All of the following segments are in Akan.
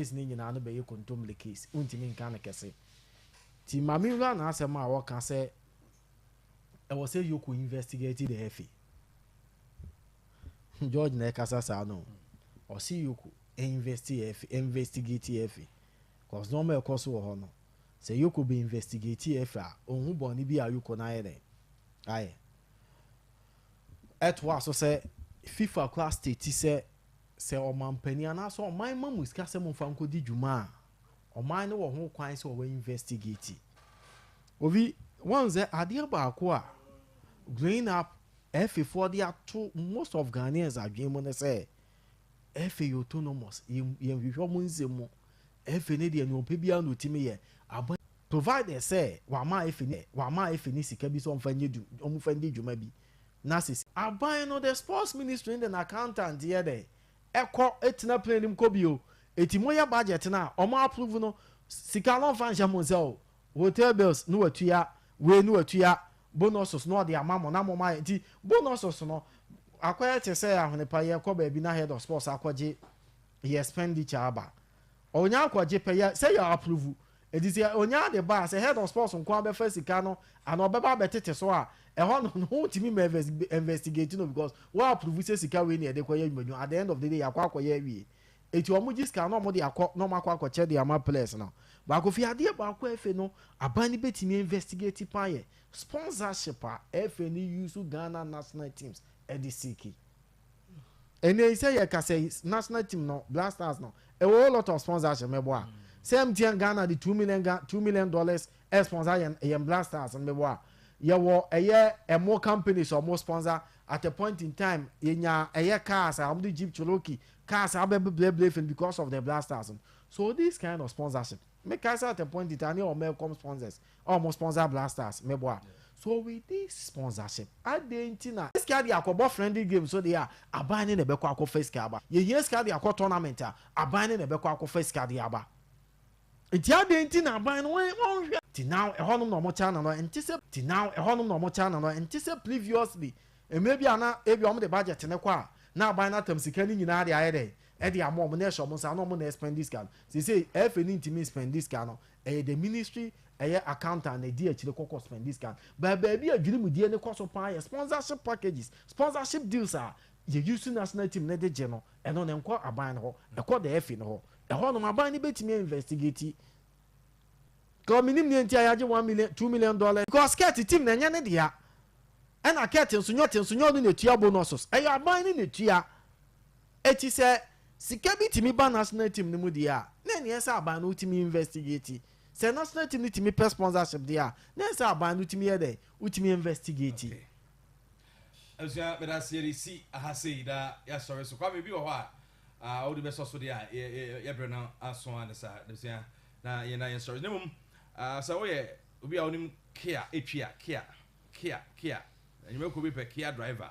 case no nyinaa no bɛyɛ kontomire case, wontumi nka no kɛse. Nti ma me nwura n'asɛm a ɔka sɛ ɛwɔ sɛ Yoko investigate the FA. George na ɛkasa saa no o. Ɔse Yoko investigate FA. Cause nneɛma a ɛkɔ so wɔ hɔ no, sɛ Yoko bɛ investigate FA a, ɔnhu bɔne bi a Yoko no ayɛ dɛn? Ayɛ. Ɛtoa so sɛ, FIFA koraa state sɛ Sɛ ɔmanpanin anaasɛ ɔman ma mo sika sɛ momfa nkɔdi dwuma a, ɔman no wɔ ho kwan sɛ ɔbɛ investigate. Obi, wahu sɛ adeɛ baako a growing up Efe foɔ de ato most of Ghanaians adwene mu ne sɛ Efe yɛ autonomous, yɛnhwehwɛ ɔmo nsɛm mu, Efe no deɛ nea ɔpɛ biara na ɔtumi yɛ, aban provided sɛ wama Efe ne sika bi sɛ ɔmfa nyɛ ɔmfa ndi dwuma bi, na sisi. Aban no de sports ministry no de no accountant yɛ dɛn? Ɛkɔ ɛtena plane no mu kɔ bio. Ɛti mo yɛ budget no a ɔmo approve no sika no ɔnfa nhyɛ mo nsa o. Hotel bills no watua, wei no watua, bonuses no ɔde ama mo na mo ma yɛ nti bonuses no akɔyɛ te sɛ ahwenepa yɛ kɔ baabi na head of sports akɔgye yɛ expenditure aba. Ɔnya akɔgye pɛ yɛ sɛ yɛ approve Enti sɛ onyaa de ba a, sɛ Head of Sports nko ara bɛfa sika no anaa ɔbɛba abɛtete so a, ɛhɔ no ne ho ntumi mma investigate no because wa approve sɛ sika wei na yɛde kɔyɛ adwumadwuma, at the end of the day yɛakɔ akɔyɛ awie. Enti wɔn gye sika no na wɔde akɔ na wɔn akɔ akɔkyɛ de ama players no. Baako firi adeɛ baako a FA no aban no bɛtumi a investigate paa yɛ sponsorship a FA no use Ghana national teams de seeki. ɛnɛ yi sɛ yɛka sɛ national team no black stars no ɛwɔ whole lot of sponsorship mɛbɔ a sɛ mtn ghana de two million two million dollars ɛsponsor yɛn yɛn black stars no mɛbɔ a yɛwɔ ɛyɛ ɛmo companies a wɔn sponsor at a point in time yɛnya ɛyɛ cars a wɔn de jeep cherokee cars abɛbɛbrɛbrɛ fɛn because of the black stars no so this kind of sponsorship. Me kasa at a point in time ne ɔwɔ Melcom sponsors a ɔmo sponsor Black Stars me boa so with this sponsorship adɛn nti na sika de akɔ bɔ friendly game so deɛ a aban ne na ɛbɛkɔ akɔ fa sika aba yɛ hia sika de akɔ tournament a aban ne na ɛbɛkɔ akɔ fa sika de aba nti adɛn nti na aban no wɔn nhwɛ ti now ɛhɔ nom na ɔmo kyɛ ananɔ ɛnte sɛ ti now ɛhɔ nom na ɔmo kyɛ ananɔ ɛnte sɛ previously mmerɛ bi a na ebi ɔmo de budget ne kɔ a na aban no atam sika ne nyinaa de ayɛ dɛn de ama wɔn na ɛhyɛ wɔn nsa na wɔn na ɛspɛndi sika no seesei ɛfɛ ni ntumi nspɛndi sika no ɛyɛ the ministry ɛyɛ accountant na ɛdi akyire kɔ kɔ spɛndi sika no but baabi a dwirimdie no kɔ so paa yɛ sponsorship packages sponsorship deals a yɛ use national team no de gye no ɛno no nkɔ aban no hɔ ɛkɔ the ɛfɛ no hɔ ɛhɔ nom aban no bɛtumi a investigate kɔ menim neɛ nti a yɛagye one million two million dollars because kɛt team na ɛnyɛ ne dea ɛna kɛt nso nyɛ ɔte nso nyɛ ɔno na ɛtua bonuses ɛyɛ aban no na ɛtua. Enti sɛ sika bi tumi ba national team no mu deɛ a, na ɛneɛ sɛ aban no wotumi investigate. Sɛ national team no tumi pɛ sponsorship deɛ a, na ɛsɛ aban no tumi yɛ dɛn? Wotumi investigate. Okay. Abusua meda ase yɛde si aha sei na yɛasɔre so. Kwame bi wɔ hɔ a uh, wode bɛsɔ so deɛ a yɛbrɛ no aso a ne saa abusua na yɛna yɛnsɔre na mmom uh, sɛ woyɛ obi a wonim kia ɛtwi a kia kia kia anwumakuo bi pɛ kia driver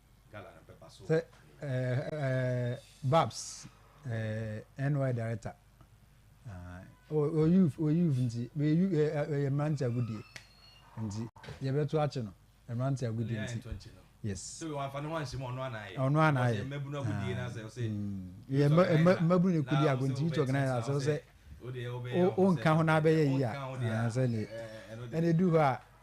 Sɛ babs NY director ɔyɛ youth nti ɛyɛ mmerante agodie nti yɛbɛto akye no mmerante agodie nti yes ɔno anaayɛ mmabunu ne kudi ago nti youth organizer sɛ sɛ wonka ho na abɛyɛ yi a sɛ ne ɛne du hɔ a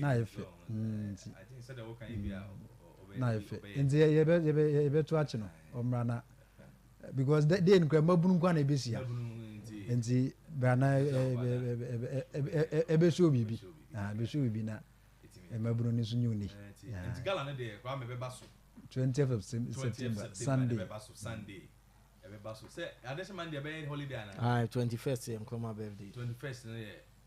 na ayɛ fɛ nti mm, na ayɛ fɛ nti yɛbɛto akye no ɔmmra na because dei no kora mmabunu nkwa na ɛbɛsia nti bra na ɛbɛsoo biribi ɛbɛsoo biribi na mmabunu no nso nyɛ ɔni 20th of September Sunday ɛbɛba so sɛ adehyɛ man deɛ ɛbɛyɛ holiday anaa ah 21st yɛ nkrɔma birthday 21st no yɛ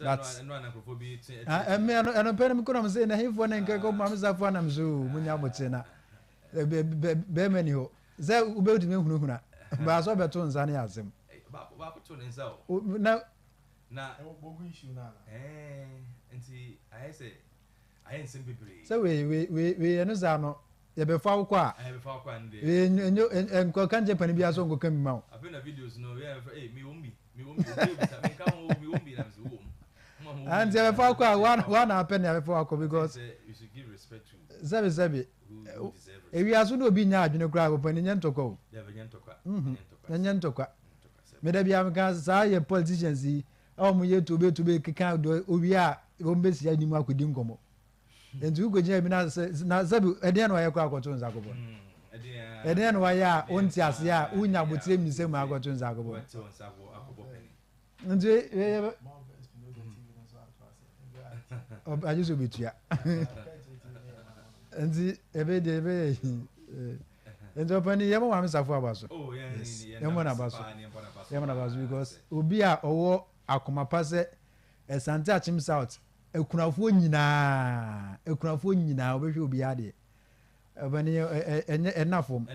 but ɛmi ɛno ɛno pɛ no mi kɔnɔ mi sɛ nahinfoɔ ne nkɛkɔ maame safo anam so mo nya mo te na bɛrima ni hɔ sɛ wobɛtumi ahunahuna baasɛ ɔbɛto nsa ne asɛm na na wɔbɔ issue no ana nti ayɛ sɛ ayɛ nsɛm bebree sɛ wei wei wei wei ɛno saa no yɛbɛfa wo kɔ a yɛbɛfa wo kɔ a no deɛ nkɔka nkyɛ pani bi aso nkɔka mi ma wo afei na videos no yɛ ɛfɛ ɛyi mi wɔn bi nti ɛbɛfa akɔ a woana apɛ ne abɛfa wakɔ because sɛbi sɛbi ewiase na obi nya adwene koraa papa ne nyɛ ntɔkwa o ɛnyɛ ntɔkwa meda bia meka saa yɛ politicians yi a wɔn yɛ tobe tobe keka do owie a wɔn bɛsi anim akɔdi nkɔmmɔ nti wo kɔgyina bi na sɛbi ɛdeɛ na wayɛ kɔ akɔto nsa kɔbɔ no hmm, ɛdeɛ na wayɛ a wonte aseɛ a wonya abotire mmisɛ mu akɔto nsa kɔbɔ nti agye sɛ obɛtua nti ɛbɛyɛ deɛ ɛbɛyɛ nti ɔpani yɛmɔ maame safo aba so oh, yɛmɔ naba so yɛmɔ naba so because obi a ɔwɔ akoma pa sɛ ɛsante akyem south akunafoɔ nyinaa akunafoɔ nyinaa ɔbɛhwɛ obiara deɛ ɛbɛne ɛnyɛ ɛna fam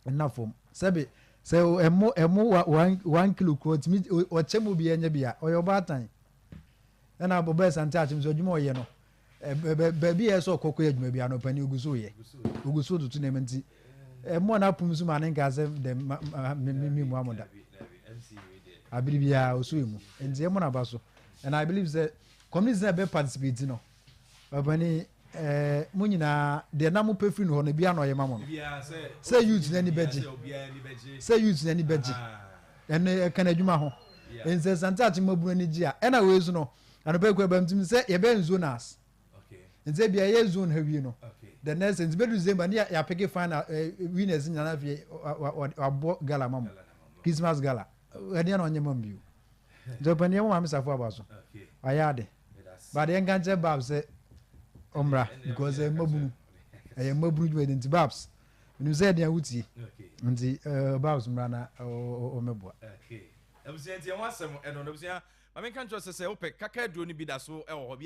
ɛna fam sɛbi sɛ ɛmo ɛmo wa one one kilo kura ɔtumi ɔkyɛ mu obiara nyɛ bia ɔyɛ ɔbaatan ɛna ɔbɛn sante akyem so adwuma ɔyɛ no baabi a ɛsɛ ɔkɔkɔ yɛ adwuma bia no ɔpɛni ogu so yɛ ogu so tutu nneɛma nti ɛmo a n'apom so ma ne nka sɛ dɛm ma ma mi mi mu amoda abiri biara ɔso emu nti ɛmo n'aba so. and i believe sɛ community na ɛbɛ participate no ɔpɛni ɛɛ mo nyinaa deɛ na mo pɛ firi no hɔ no ebi ano ɔyɛ ma mo no sɛ youth n'ani bɛgye sɛ youth n'ani bɛgye ɛno ɛka n'adwuma ho nsɛ sante akyi mo abunu ani gye a ɛna wei so no anɔpɛ kura bɛm tim sɛ yɛbɛyɛ nsuo nas nti ebi ɛyɛ zone ha wie no the next nti bɛdu december ne yɛapeke final eh, winners nyinaa afei wabɔ gala ma mo christmas gala ɛdeɛ na ɔnyɛ ma m bio Nti ɔpɛ neɛ wo maame safo aba so wayɛ ade but yɛnka nkyerɛ Babs sɛ ɔmmra because ɛyɛ mmabunu ɛyɛ mmabunu dwumadi nti Babs menim sɛ ɛdeɛ wotie nti eh, Babs mmra na ɔmɛboa abusua nti ɛho asɛm ɛno no abusua ma menka nkyerɛ sɛ sɛ wopɛ kaka aduro no bi da so ɛwɔ hɔ bi